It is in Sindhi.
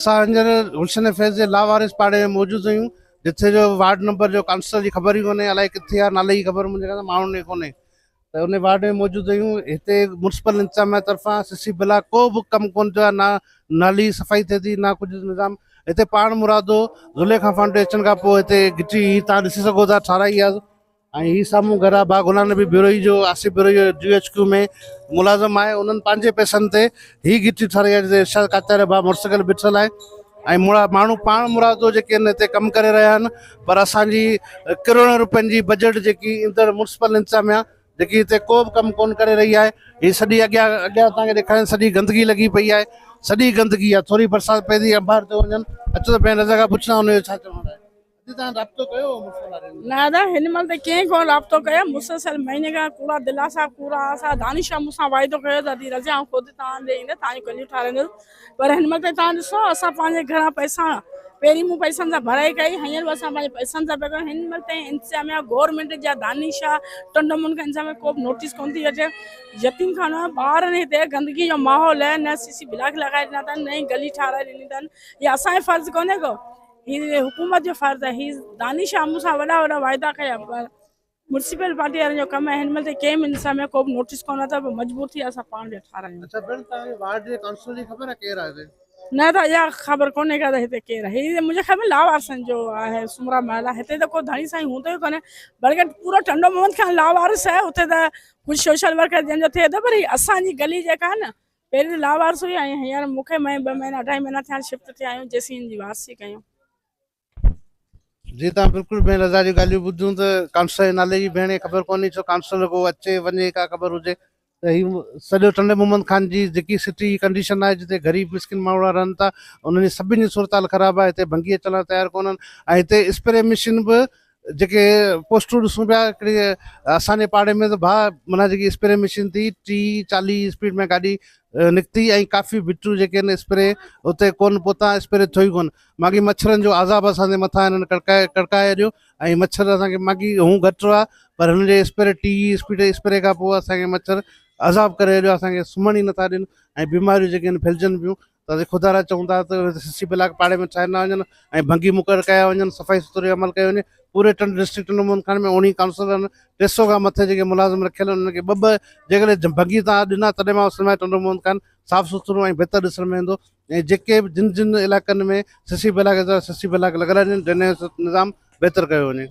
اسان هينئر گلشن فيض جي لاوارث پاڙي ۾ موجود آهيون جتي جو وارڊ نمبر جو ڪائونسلر جي خبر ئي ڪونهي الائي ڪٿي آهي نالي جي خبر منهنجي کان ماڻهن کي ڪونهي ته ان وارڊ ۾ موجود آهيون هتي مونسپل انتظاميا طرفان سي سي بلاڪ ڪو به ڪم ڪون ٿيو آهي نه نالي صفائي ٿئي ٿي نه ڪجهه نظام هتي پاڻ مرادو ضلعي کان فنڊ اچڻ کان پوء هتي گهٽي تان ڏسي سگهو ٿا ٺاراهي آهي ۽ هي سامهون گهر آ باغ غلام نبي بروهي جو آصف بروهي جو جي ايڇ ڪيو ۾ ملازم آهي انهن پنهنجي پئسن تي هي گهٽي ٺاهرائي آهي جتي ارشاد ڪاچاريا ڀاء مڙس گڏ بيٺل آهي ۽ مڙا ماڻهو پاڻ مرادو جيڪي ان هتي ڪم ڪري رهيا آهن پر اسان جي ڪروڙين روپين جي بجيٽ جيڪي ايندڙ ميونسپل انتظاميا جيڪي هتي ڪو به ڪم ڪون ڪري رهي آهي هي سڄي اڳيان اڳيان اسان کي ڏيکارين سڄي گندگي لڳي پئي آهي سڄي گندگي آهي ٿوري برسات پئي ٿي انبار ٿيو وڃن اچو ته پنهنجي نظر کان پڇ ته ان جو ڇا چوڻ آهي نه ادا هن مهل ته ڪنهن ڪونه رابطو ڪيو، مسلسل مهيني کان ڪوڙا دلاسا ڪوڙا آسا، دانش صاحب مون سان وعدو ڪيو ته ادي رضيه آئون خود توهان ڏي ايندس توهان جون ڪليون ٺارايندس پر هن مهل ته توهان ڏسو اسان پنهنجي گهران پئسا پهرين مون پئسن سان ڀرائي ڪئي هينئر به اسان پنهنجي پئسن سان پيا ڪريون هن مهل تائين انتظاميا گورنمينٽ جا دانش شاهه ٽنڊو مون کي انتظاميا ڪو به نوٽيس ڪونه ٿي اچي يتيم خانو آهي ٻار آهن هتي گندگي جو ماحول آهي نه سي سي بلاڪ لڳائي ڏنا اٿن نه ئي گلي ٺاراهي ڏني اٿن يا اسان جو فرض ڪونهي ڪو هي حڪومت جو فرض آهي هي داني شاهه مون سان وڏا وڏا واعدا ڪيا پر مرسيپل پارٽي وارن جو ڪم آهي هن مهل تائين ڪنهن به نسا ۾ ڪو به نوٽيس ڪون اٿا پر مجبور ٿي اسان پاڻ ويا ٺارايون اچھا بھن تان وارڊ جي ڪانسلر جي خبر آهي ڪير آهي نه ته اها خبر ڪونهي ڪا ته هتي ڪير آهي هي منهنجي خيال ۾ لاوارسن جو آهي سمرا محل آهي هتي ته ڪو ڌڻي سائين هوندو ئي ڪونهي بلڪه پورو ٽنڊو محمد خان لاوارس آهي هتي ته ڪجھه سوشل ورڪر جن جو ٿئي ٿو پر هي اسان جي گلي جيڪا آهي نه پهرين ته لاوارث هئي ۽ هينئر مون کي مئي ٻه مهينا اڍائي مهينا ٿيا آهن شفٽ ٿيا آهيون جيسين هن جي وارثي ڪيون. جي توهان بلڪل بي رضا جون ڳالهيون ٻڌيون ته ڪانسلر جي نالي جي ڀيڻ کي خبر ڪونهي ڇو ڪانسلر رڳو اچي وڃي ڪا خبر هجي ته هي سڄو ٽنڊي محمد خان جي جيڪي سٽي جي ڪنڊيشن آهي جتي غريب مسڪين ماڻهڙا رهن ٿا انهن جي سڀني جي صورتحال خراب آهي هتي ڀنگي اچڻ لاء تيار ڪونهن ۽ هتي اسپري مشين به جيڪي پوسٽون ڏسون پيا هڪڙي اسان جي پاڙي ۾ ته ڀاء معنيٰ جيڪي اسپري مشين ٿي ٽي چاليهه جي اسپيڊ ۾ گاڏي نڪتي ۽ ڪافي ڀٽيون جيڪي آهن اسپري اتي ڪونه پهتا اسپري ٿيو ئي ڪونه ماڳهين مڇرن جو عذاب اسان جي مٿان هنن ڪڙڪائي ڪڙڪائي اڏيو ۽ مڇر اسان کي ماڳهين هون گهٽ هئا پر هنن جي اسپري ٽي اسپيڊ اسپري کان پوء اسان کي مڇر عذاب ڪري اڏيو اسان کي سمهڻ ئي نٿا ڏين ۽ بيماريون جيڪي آهن ڦهلجن پيون ته خدا را چون ٿا ته سي سي بلاڪ پاڙي ۾ ٺاهيا نه وڃن ۽ ڀنگي مقرر ڪيا وڃن صفائي سٿري عمل ڪيو وڃي پوري ٽنڊ ڊسٽرڪٽ ٽنڊو موهن خان ۾ اوڻيهه ڪائونسلرن ٽي سئو کان مٿي جيڪي ملازم رکيل انهن کي ٻه ٻه جيڪڏهن ڀنگي تان ڏنا تڏهن مان سنواء ٽنڊو موهن خان صاف سٿرو ۽ بهتر ڏسڻ ۾ ايندو ۽ جيڪي به جن جن علائقن ۾ C C block C C block لڳل آهن ڊرينيج نظام بهتر ڪيو وڃي.